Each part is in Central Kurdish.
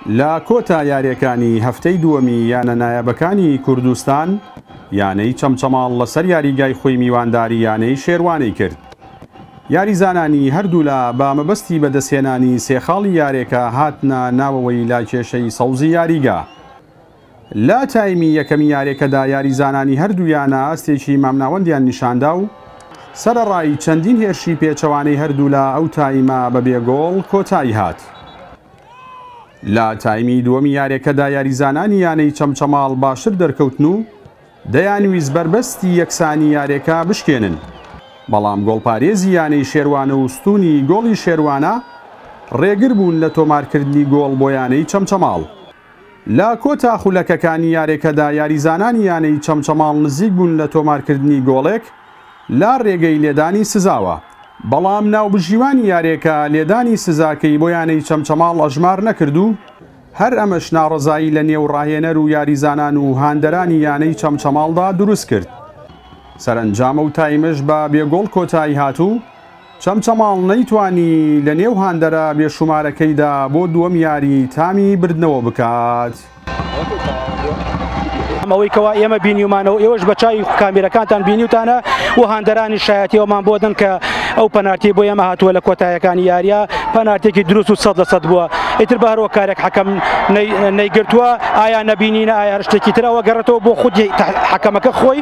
لە کۆتا یاریەکانی هەفتەی دووەمی یانە نایابەکانی کوردستان یانەی چەمچەماڵ لەسەر یاریگای خۆی میوانداری یانەی شێروانەی کرد یاریزانانی هەردوولا بە مەبەستی بەدەستهێنانی سێخاڵی یارێکە هاتنە ناوەوەی لاکێشەی سەوزی یاریگا لە تایمی یەکەمی یاریەکەدا یاریزانانی هەردوو یانە ئاستێکی مامناوەندیان نیشاندا و سەرەڕای چەندین هێرشی پێچەوانەی هەردوولا ئەو تایمە بە بێ گۆڵ کۆتایی هات. لە تایمی دووەمی یاریەکەدا یاریزانانی یانەی چەمچەماڵ باشتر دەرکەوتن و دەیانویست بەربەستی یەکسانی یاریەکە بشکێنن، بەڵام گۆڵپارێزی یانەی شێروانە و ستوونی گۆڵی شێروانە رێگر بوون لە تۆمارکردنی گۆڵ بۆ یانەی چەمچەماڵ. لە کۆتا خولەکەکانی یارێکەدا یاریزانانی یانەی چەمچەماڵ نزیک بوون لە تۆمارکردنی گۆڵێک لە رێگەی لێدانی سزاوە، بەڵام ناوبژیوانی یارێکە لێدانی سزاکەی بۆ یانەی چەمچەماڵ ئەژمار نەکرد و هەر ئەمەش ناڕەزایی لە نێو راهێنەر و یاریزانان و هاندەرانی یانەی چەمچەماڵدا دروستکرد سەرەنجامەو تایمش بە بێ گۆڵ کۆتاییهات و چەمچەماڵ نەیتوانی لە نێو هاندەرە بێشومارەکەیدا بۆ دووەم یاری تامی بردنەوە بکات. ئەوەی کەوا ئێمە بینیومانەوە ئێوەش بە چاوی کامیرەکانتان بینیوتانە و هاندەرانی شایەتی ئەومان بۆ دەن کە ئەو پەنارتی بۆ ئێمە هاتووە لە کۆتایەکانی یاریە پەنارتێکی دروست و سەد لە سەد بووە ئیتر بە هەرۆ کارێک حەکەم نەیگرتووە ئایا نەبینینە ئایا هەر شتێکی ترەوە گەڕێتەوە بۆ خودی حەکەمەکە خۆی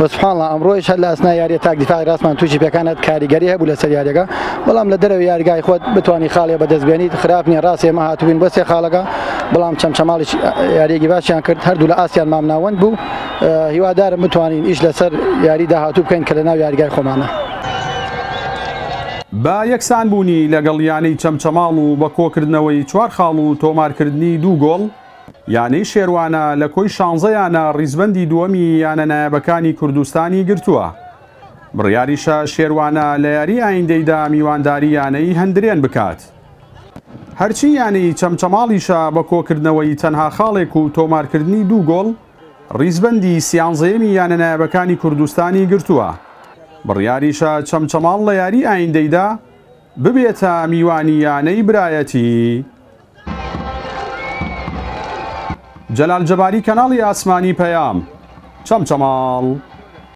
و سبحان اللە ئەمڕۆیش هەر لە ئەسنای یاریە تاک دیفاعی راستمان تووشی پێکان هات کاریگەری هەبوو لەسەر یاریەکە بەڵام لە دەرەوەی یارگای خۆت بتوانی خاڵێ بەدەست بێنیت خراپ نیە راست ئێمە هاتووین بۆ سێ خاڵەکە بەڵام چەمچەماڵیش یاریەکی باشیان کرد هەردوو لە ئاستیان مامناوەند بوو هیوادارم بتوانین ئیش لەسەر یاری داهاتوو بکەین کە لەناو یاریگای خۆمانە. بە یەکسانبوونی لەگەڵ یانەی چەمچەماڵ و بە کۆکردنەوەی چوار خاڵ و تۆمارکردنی دوو گۆڵ، یانەی شێروانە لە کۆی شانزە یانە ڕیزبەندی دووەمی یانە نایابەکانی کوردستانی گرتووە. بڕیاریشە شێروانە لە یاری ئایندەیدا میوانداری یانەی هەندرێن بکات. هەرچی یانەی چەمچەماڵیشە بە کۆکردنەوەی تەنها خاڵێک و تۆمارکردنی دوو گۆڵ ڕیزبەندی سیانزەیەمی یانە نایابەکانی کوردستانی گرتووە. بڕیاریشە چەمچەماڵ لە یاری ئایندەیدا ببێتە میوانی یانەی برایەتی. جەلال جەباری کەناڵی ئاسمانی پەیام چەمچەماڵ.